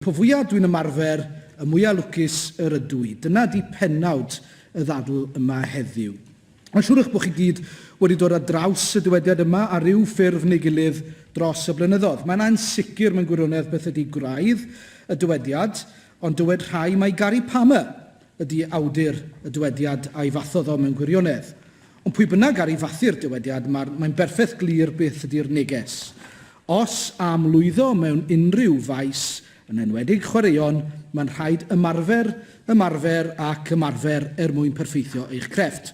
Po fwya dwi'n ymarfer, y mwya lwcus yr ydw i. Dyna 'di pennawd y ddadl yma heddiw. Mae'n siŵr eich bod chi gyd wedi dod ar draws y dywediad yma ar ryw ffurf neu gilydd dros y blynyddoedd. Mae'n ansicr mewn gwirionedd beth ydi gwraidd y dywediad, ond dywed rhai mai Gary Palmer ydy awdur y dywediad a'i fathodd o mewn gwirionedd. Ond pwy bynnag ar i fathu'r dywediad, mae'r, mae'n berffeth glir beth ydy'r neges. Os am lwyddo mewn unrhyw faes, yn enwedig chwaraeon, mae'n rhaid ymarfer, ymarfer ac ymarfer er mwyn perfeithio eich crefft.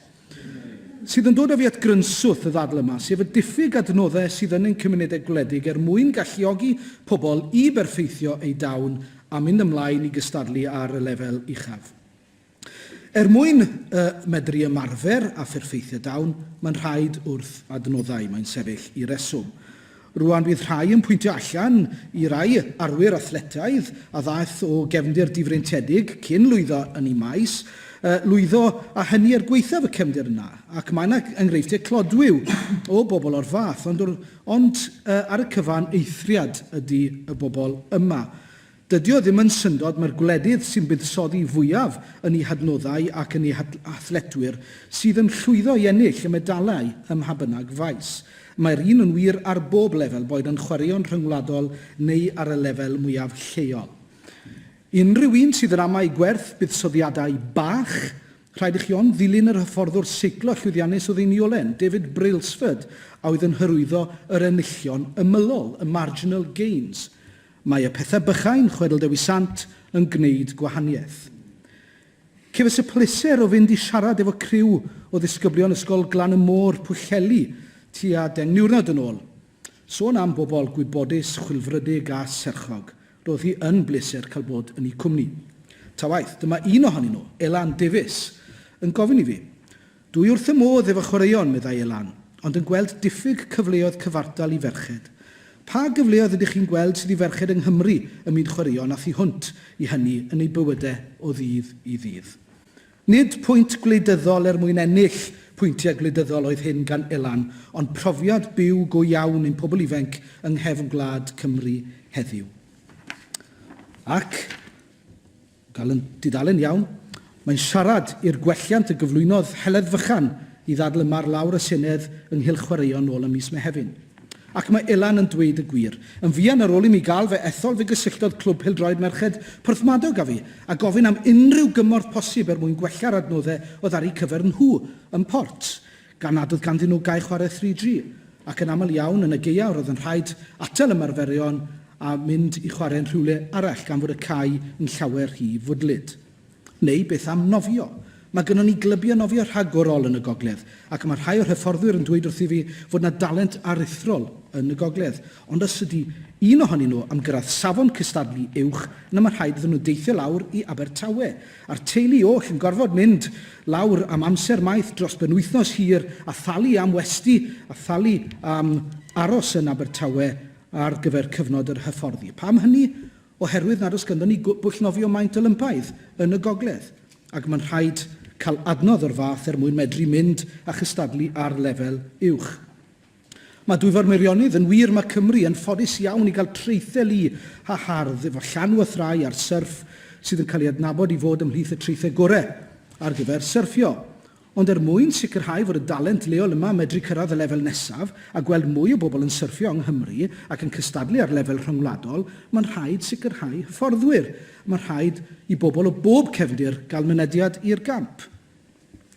sydd yn dod oddi at grynswth y ddadl yma, sef y diffyg adnoddau sydd yn ein cymunedau gwledig er mwyn galluogi pobl i berffeithio eu dawn a mynd ymlaen i gystadlu ar y lefel uchaf. Er mwyn medru ymarfer a pherffeithio dawn, mae'n rhaid wrth adnoddau, mae'n sefyll i reswm. Rŵan bydd rhai yn pwyntio allan i rai arwyr athletaidd a ddaeth o gefndir difreintiedig cyn lwyddo yn eu maes, lwyddo a hynny er gwaethaf y cefndir yna, ac mae yna enghreifftiau clodwiw o bobl o'r fath, ond ond ar y cyfan eithriad ydy y bobl yma. Dydy o ddim yn syndod, mae'r gwledydd sy'n buddsoddi fwyaf yn eu hadnoddau ac yn eu hathletwyr sydd yn llwyddo i ennill y medalau ym mha bynnag faes. Mae'r un yn wir ar bob lefel, boed yn chwaraeon rhyngwladol neu ar y lefel mwyaf lleol. Unrhyw un sydd yn amau gwerth buddsoddiadau bach, rhaid i chi ond ddilyn yr hyfforddwr seiclo llwyddiannus o Ddeiniolen, David Brailsford, a oedd yn hyrwyddo yr enillion ymylol, y marginal gains. Mae y pethau bychain, chwedl Dewi Sant, yn gwneud gwahaniaeth. Cefais y pleser o fynd i siarad efo criw o ddisgyblion Ysgol Glan y Môr, Pwllheli, tua deng niwrnod yn ôl. Sôn am bobl gwybodus, chwilfrydig a serchog, roedd hi yn bleser cael bod yn eu cwmni. Ta waeth, dyma un ohonyn nhw, Elan Davies, yn gofyn i fi, Dw i wrth fy modd efo chwaraeon, meddai Elan, ond yn gweld diffyg cyfleoedd cyfartal i ferched. Pa gyfleoedd ydych chi'n gweld sydd i ferched yng Nghymru ym myd chwaraeon a thu hwnt i hynny yn eu bywydau o ddydd i ddydd? Nid pwynt gwleidyddol er mwyn ennill pwyntiau gwleidyddol oedd hyn gan Elan, ond profiad byw go iawn ein pobl ifainc yng nghefn gwlad Cymru heddiw. Ac, Gall yn dudalen iawn. Mae'n siarad i'r gwelliant y gyflwynodd Heledd Fychan i ddadl y mae'r lawr y Senedd ynghylch chwaraeon nôl ym mis Mehefin. Ac mae Elan yn dweud y gwir. Yn fuan ar ôl i mi gael fy ethol fe gysylltodd Clwb Pêl-droed Merched Porthmadog â fi a gofyn am unrhyw gymorth posib er mwyn gwella'r adnoddau oedd ar eu cyfer nhw ym Mhort gan nad oedd ganddyn nhw gae chwarae 3G, ac yn aml iawn yn y gaeaf roedd yn rhaid atal ymarferion a mynd i chwarae yn rhywle arall gan fod y cae yn llawer rhy fwdlyd. Neu beth am nofio? Mae gynnon ni glybiau nofio rhagorol yn y gogledd, ac mae rhai o'r hyfforddwyr yn dweud wrthyf i fod 'na dalent aruthrol yn y gogledd, Ond os ydy un ohonyn nhw am gyrraedd safon cystadlu uwch yna mae rhaid iddyn nhw deithio lawr i Abertawe, a'r teulu oll yn gorfod mynd lawr am amser maith dros benwythnos hir a thalu am westy a thalu am aros yn Abertawe ar gyfer cyfnod yr hyfforddi. Pam hynny? Oherwydd nad oes ganddo ni bwll nofio maint Olympaidd yn y gogledd ac mae'n rhaid cael adnodd o'r fath er mwyn medru mynd a chystadlu ar lefel uwch. Mae Dwyfor Meirionnydd yn wir mae Cymru yn ffodus iawn i gael traethau lu a hardd efo llanw a thrae a'r syrff sydd yn cael ei adnabod i fod ymhlith y traethau gorau ar gyfer syrffio ond er mwyn sicrhau fod y dalent leol yma yn medru cyrraedd y lefel nesaf a gweld mwy o bobl yn syrffio yng Nghymru ac yn cystadlu ar lefel rhyngwladol mae'n rhaid sicrhau hyfforddwyr mae'n rhaid i bobl o bob cefndir gael mynediad i'r gamp.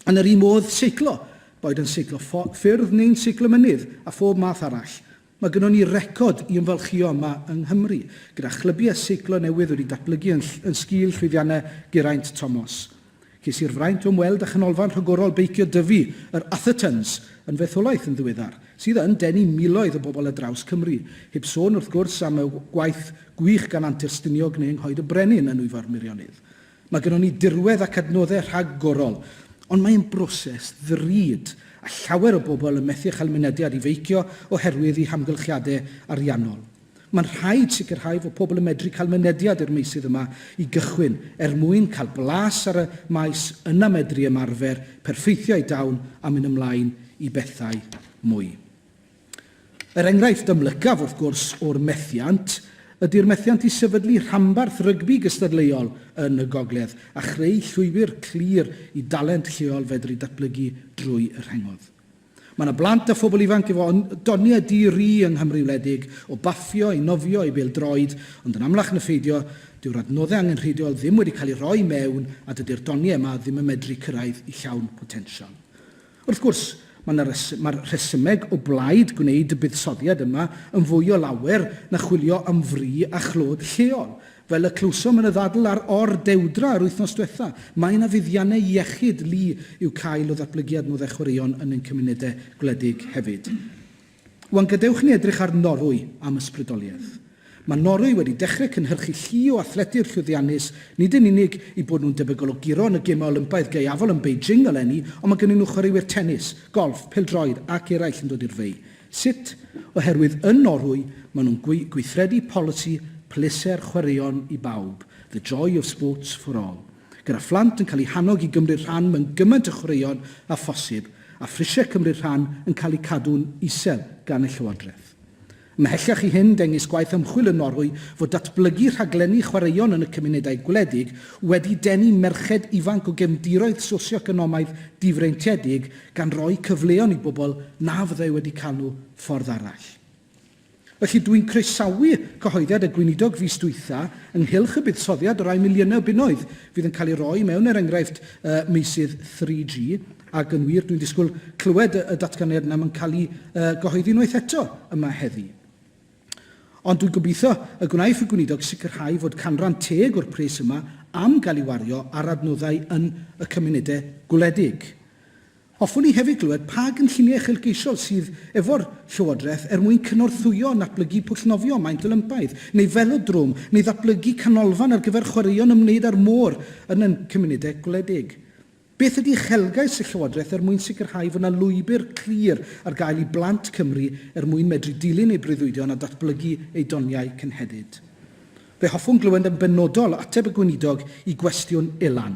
Yn yr un modd, seiclo, boed yn seiclo ffyrdd neu'n seiclo mynydd, a phob math arall, mae gynnon ni record i ymfalchïo yma yng Nghymru, gyda chlybiau seiclo newydd wedi datblygu yn yn sgil llwyddiannau Geraint Thomas. Ces i'r fraint o ymweld â Chanolfan Rhagorol Beicio Dyfi, yr Athertons, yn fetholaeth yn ddiweddar, sydd yn denu miloedd o bobl ar draws Cymru, heb sôn wrth gwrs am y gwaith gwych gan Antur Stiniog neu yng Nghoed y Brenin yn Nwyfor Meirionnydd. Mae gynnon ni dirwedd ac adnoddau rhagorol, ond mae'n broses ddrud a llawer o bobl yn methu chael mynediad i feicio oherwydd eu hamgylchiadau ariannol. Mae'n rhaid sicrhau fod pobl yn medru cael mynediad i'r meysydd yma i gychwyn er mwyn cael blas ar y maes yna medru ymarfer, perffeithio eu dawn a mynd ymlaen i bethau mwy. Yr enghraifft amlycaf, wrth gwrs, o'r methiant ydy'r methiant i sefydlu rhanbarth rygbi gystadleuol yn y gogledd a chreu llwybr clir i dalent lleol fedru datblygu drwy y rhengoedd. Mae yna blant a phobl ifanc efo doniau di-ri yng Nghymru wledig, o baffio i nofio i bêl-droed, ond yn amlach na pheidio, dyw'r adnoddau angenrheidiol ddim wedi cael eu rhoi i mewn a dydy'r doniau yma ddim yn medru cyrraedd i llawn potensial. Wrth gwrs, mae 'na resy- mae'r rhesymeg o blaid gwneud y buddsoddiad yma yn fwy o lawer na chwilio am fri a chlod lleol. Fel y clywsom yn y ddadl ar Or Dewdra yr wythnos diwetha', mae 'na fuddiannau iechyd lu i'w cael o ddatblygiad moddau chwaraeon yn ein cymunedau gwledig hefyd. Wan gadewch i ni edrych ar Norwy am ysbrydoliaeth. Mae Norwy wedi dechrau cynhyrchu llu o athletwyr llwyddiannus, nid yn unig eu bod nhw'n debygol o guro yn y Gemau Olympaidd Gaeafol yn Beijing eleni, ond mae gennyn nhw chwaraewyr tenis, golff, pêl-droed ac eraill yn dod i'r fei. Sut? Oherwydd yn Norwy, maen nhw'n gweithredu polisi pleser chwaraeon i bawb, The Joy of Sports for All. gyda phlant yn cael eu hannog i gymryd rhan mewn gymaint o chwaraeon â phosib a phrisiau cymryd rhan yn cael eu cadw'n isel gan y Llywodraeth. Ymhellach i hyn, dengys gwaith ymchwil yn Norwy fod datblygu rhaglenni chwaraeon yn y cymunedau gwledig wedi denu merched ifanc o gefndiroedd sosioeconomaidd difreintiedig gan roi cyfleon i bobl na fyddai wedi cael nhw ffordd arall. Felly, dw i'n croesawu cyhoeddiad y Gweinidog fis dwytha ynghylch y buddsoddiad o rai miliynau o bunnoedd fydd yn cael ei roi mewn er enghraifft y meysydd 3G, ac yn wir, dw i'n disgwyl clywed y datganiad yna mae'n cael ei gyhoeddi unwaith eto yma heddi. Ond dwi'n gobeithio y gwnaiff y Gweinidog sicrhau fod canran teg o'r pres yma am gael ei wario ar adnoddau yn y cymunedau gwledig. Hoffwn ni hefyd glywed pa gynlluniau uchelgeisiol sydd efo'r Llywodraeth er mwyn cynorthwyo natblygu Pwll Nofio, Maent Olympaidd, neu Felodrome, neu ddatblygu canolfan ar gyfer chwaraeon ymwneud â'r môr yn ein cymunedau gwledig. Beth ydy uchelgais y Llywodraeth er mwyn sicrhau fod yna lwybr clir ar gael i blant Cymru er mwyn medru dilyn eu breuddwydion a datblygu eu doniau cynhenid? Fe hoffwn glywed yn benodol ateb y Gweinidog i gwestiwn Elan.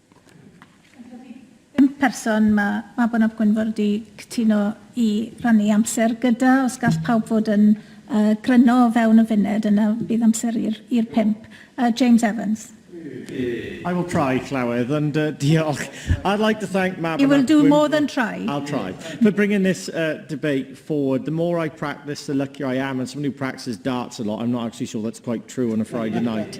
Yn person, mae Mabon ap Gwynfor wedi cytuno i rannu ei amser gyda, os gall pawb fod yn uh, gryno o fewn y funed, yna bydd amser i'r pump. Uh, James Evans. I will try, Llywydd, and uh, diolch. I'd like to thank Mab You will do more than try. I'll try. For bringing this uh, debate forward. The more I practice, the luckier I am. And someone who practices darts a lot, I'm not actually sure that's quite true on a Friday night.